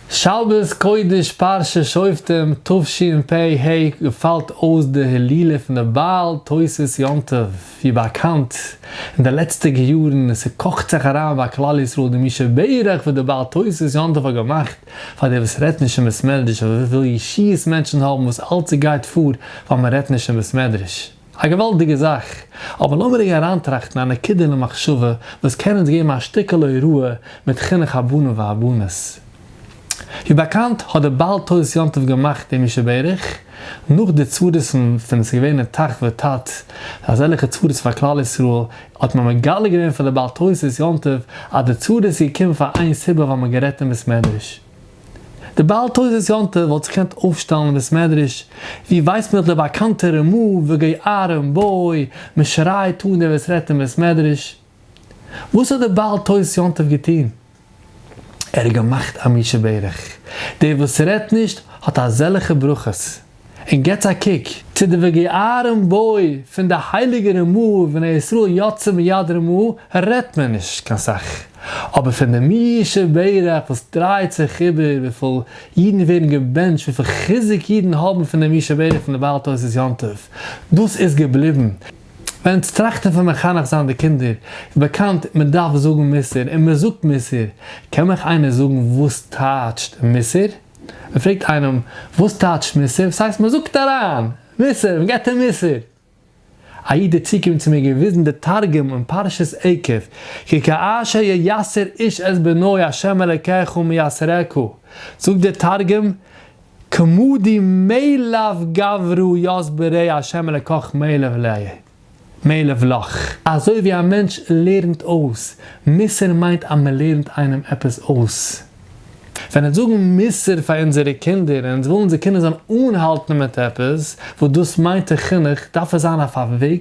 שבת קודש פרשת שופטים תשפ ה געפאלט אויס די הילולא פון די בעל תוס' יום טוב, ווי באקאנט אין די לעצטיגע יארן און ס'קאכט זיך אריין ביי כלל ישראל די מי שברך וואס די בעל תוס' יום טוב האט געמאכט, פאר די וואס רעדט נישט אין בית מדרש אויף וויפיל ישיעות מענטשן האבן וואס אלץ ס'גייט פאר ווייל מ'רעדט נישט אין בית מדרש. א געוואלדיגע זאך, אבער לאמיר רגע אריינטראכטן א נקודה אין המחשבה וואס קען אונז געבן א שטיקעלע הוראה מיט חינוך הבנים והבנות. ווי באקאנט האט דער בעל תוס' יום טוב געמאכט דעם ישוב ערך, נאך די צרות פון ווען עס איז געווען אין תח ותט אזעלכע צרות פאר כלל ישראל, האט מען מגלה געווען פאר די בעל תוס' יום טוב אז די צרות איז געקומען פאר איין סיבה ווייל מען האט גערעדט אין בית מדרש. די בעל תעודת יום טוב וואלט זיך געקענט אויפשטעלן אין בית מדרש ווי ווייס מען האט די באקאנטע רמו וגוי ארם בוי מען שרייט אן דער וואס רעדט אין בית מדרש. וואס האט די בעל תעודת יום טוב געטון? ער האט געמאכט א מי שברך. דער וואס רעדט נישט האט אזעלכע ברכות. און געטס א קוק צו די וגעארם בוי פון די הייליגע ר מ ובני ישראל יצא מיד ר מ רעדט מען נישט קיין סאך, אבער פון די מי שברך וואס דרייט זיך איבער וויפיל אידן ווערן געבענטשט וויפיל חיזוק אידן האבן פון די מי שברך פון די בעל תוס' יום טוב דאס איז געבליבן ווען עטס טראכטן פון מחנך זיין די קינדער איז באקאנט מען דארף זאגן מוסר און מען זאגט מוסר קען מיך איינער זאגן וואס טייטשט מוסר? מען פרעגט איינעם וואס טייטשט מוסר, ס'הייסט מען זאגט אריין מוסר, מען געבט אים מוסר. א איד איז צוגעקומען צו מיר געוויזן די תרגום אין פרשת עקב, כי כאשר ייסר איש את בנו ה' אלקיך מייסרך, זאגט דער תרגום, כמודי מאליו גברו יסברי ה' אלקיך מאליו ליה. מענעוולאך, אזוי ווי א מענטש לערנט אויס, מוסר מיינט אז מען לערנט איינעם עפעס אויס. ווען אונז זאגן מוסר פאר אונזערע קינדער און אונז ווילן אונזער קינדער זאלן אנהאלטן מיט עפעס וואס דאס מיינט אין חינוך, דארף עס זיין אויף א וועג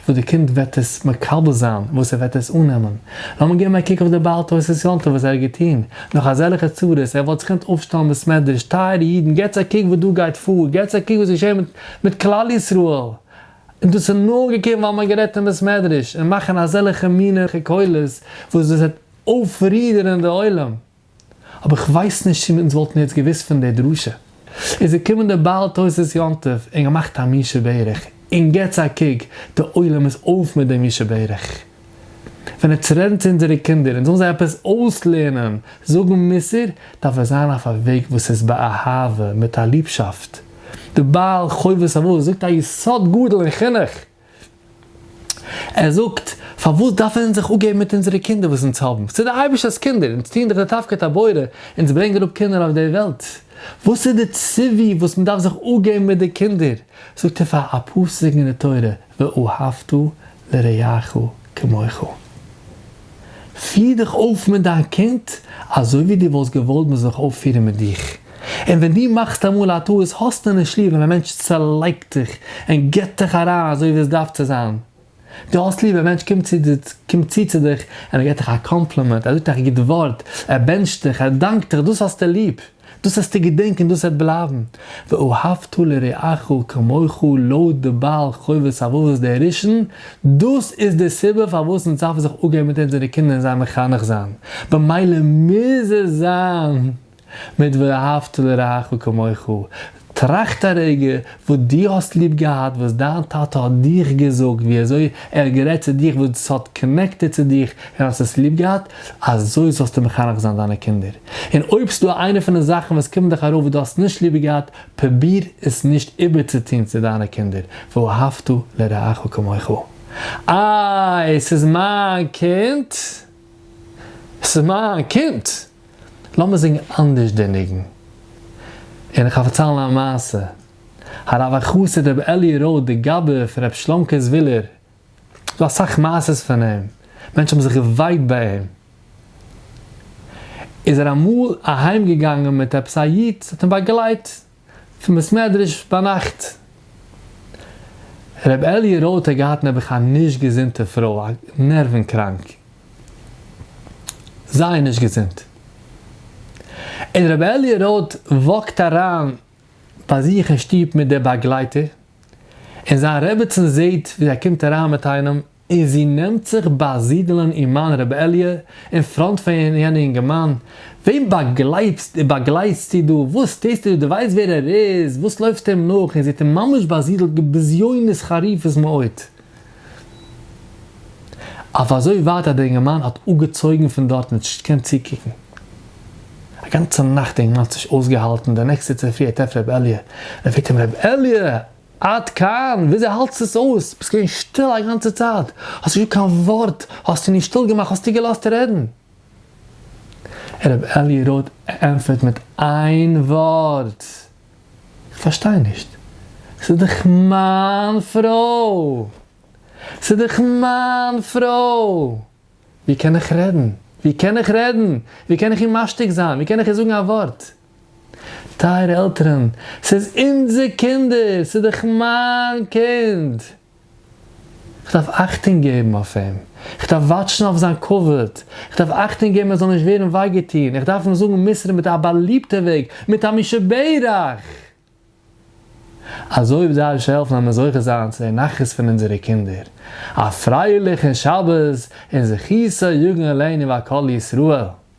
וואס די קינד וועט עס מקבל זיין, וואס ער וועט עס אננעמען. לאמיר געבן א קוק אויף די בעל תוספות יום טוב וואס ער האט געטון נאך אזעלכע צרות, ער וואלט זיך געקענט אויפשטעלן בית מדרש, טייערע אידן געטס א קוק וואס דא גייט פאר, געטס א קוק וואס איז געשען מיט כלל ישראל, און דאס איז נאר געקומען ווייל מ'האט גערעדט אין בית מדרש, און מאכן אזעלכע מינע קולות וואס דאס וועט אויפרידערען די עולם. אבער איך ווייס נישט צו אונז וואלטן יעצט געוואוסט פון דער דרשה. איז געקומען דער בעל תוס' יום טוב און געמאכט א מי שברך, און געטס א קוק, די עולם איז אויף מיט דעם מי שברך. ווען ער טרענט צו אונזערע קינדער אונז זאלן זיי עפעס אויסלערנען זאגן מוסר, דארף עס זיין אויף א וועג וואס איז באהבה, מיט א ליבשאפט. דער בעל חובת אבות זאגט א יסוד גדול אין חינוך. ער זאגט, פארוואס דארפן אונז זיך אפגעבן מיט אונזערע קינדער וואס אונז האבן? ס'איז דער אייבערשטער'ס קינדער, אונז טוען דאך די תפקיד הבורא, אונז ברענגען אראפ קינדער אויף דער וועלט. וואס איז די ציווי וואס מ'דארף זיך אפגעבן מיט די קינדער? זאגט ער פאר א פסוק אין די תורה, ואהבת לרעך כמוך. פיר דיך אויף מיט דיין קינד אזוי ווי דו וואלסט געוואלט מען זאל זיך אויפפירן מיט דיך. און ווען דו מאכסט אמאל א טעות האסטו נישט ליב ווען א מענטש צעלייגט דיך און גיבט דיך אריין אזוי ווי עס דארף צו זיין. דו האסט ליב ווען א מענטש קומט צו צו דיך און ער גיבט דיך א קאמפלימענט, ער זאגט דיך א גוט ווארט, ער בענטשט דיך, ער דאנקט דיך, דאס האסטו ליב. דאס זאלסטו געדענקען און דאס וועט בלייבן, ואהבת לרעך כמוך לויט די בעל חובת הלבבות דער ראשון, דאס איז די סיבה פארוואס אונז דארפן זיך אפגעבן מיט אונזערע קינדער און זיי מחנך זיין, במילא מוז עס זיין מיט ואהבת לרעך כמוך, טראכט א רגע וואס דו האסט ליב געהאט וואס דיין טאטע האט דיך געזאגט ווי אזוי ער האט גערעדט צו דיך וואס ס'האט קאנעקטעד צו דיך און האסט עס ליב געהאט, אזוי זאלסטו מחנך זיין דיינע קינדער. און אויב ס'דא איינע פון די זאכן וואס קומען דיך ארויף וואס דו האסט נישט ליב געהאט, פרוביר עס נישט איבערצוטון צו דיינע קינדער, ואהבת לרעך כמוך. איי, ס'איז מיין קינד? ס'איז מיין קינד! לאמיר זינגען אנדערש די ניגון. און איך וועל פארציילן א מעשה. הרב החסיד רבי אלי' רוט די גאבע פון רבי שלום קעזווילער, ס'איז דא אסאך מעשה'ס פון אים, מענטשן האבן זיך געווייקט ביי אים. איז ער אמאל אהיימגעגאנגען מיט עפעס א איד, ס'האט אים באגלייט. פון בית מדרש ביינאכט. ר' אלי' רויט האט געהאט נעבעך א נישט געזונטע פרוי, א נערווען קראנק. זייער נישט געזונט. און ר' אלי' רויט וואקט אריין ביי זיך אין שטוב מיט די באגלייטער, און זיין רעבעצין זעהט ווי ער קומט אריין מיט איינעם, און זי נעמט זיך באַזידלען אין מײַן רעבעליע אין פֿראָנט פֿון יענע יונגערמאַן, װען באַגלײבסט באַגלײבסטו דו? װאָס טוסטו דאָ? דו װײסט װער ער איז? װאָס לױפֿסטו אים נאָך? און זי האָט אים ממש באַזידלט מיט בזיונות חריפות מאוד, אױף אַזױ װײַט, אַז דער יונגערמאַן האָט אָפּגעצױגן פֿון דאָרט ניט געקענט צוקוקן. אַ גאַנצע נאַכט דער יונגערמאַן האָט נישט אױסגעהאַלטן, דער נעקסטער צופֿרי האָט ער רעבעליע, ער פֿרעגט אים, רעבעליע! עד כאן! וויאזוי האלטסטו עס אויס? ביסט געווען שטיל א גאנצע צייט, האסט נישט געזאגט קיין ווארט, האסטו נישט שטיל געמאכט, האסטו געלאזט רעדן. רבי אלי' רוט ענטפערט מיט איין ווארט, איך פארשטיי נישט, ס'איז דאך מיין פרוי! ס'איז דאך מיין פרוי! ווי קען איך רעדן? ווי קען איך רעדן? ווי קען איך אים משתיק זיין? ווי קען איך אים זאגן א ווארט? טייערע עלטערן, ס'איז אונזער קינדער! ס'איז דאך מיין קינד! כ'דארף אכטונג געבן אויף אים! כ'דארף וואטשן אויף זיין כבוד! כ'דארף אכטונג געבן ער זאל נישט ווערן וויי געטון! כ'דארף אים זאגן מוסר מיט א באליבטע וועג, מיט א מי שברך! אזוי ווי זיי אויך העלפן אז מיר זוכה זיין צו די נחת פון אונזערע קינדער. א פרייליכן שבת און זכותו יגן עלינו ועל כל ישראל!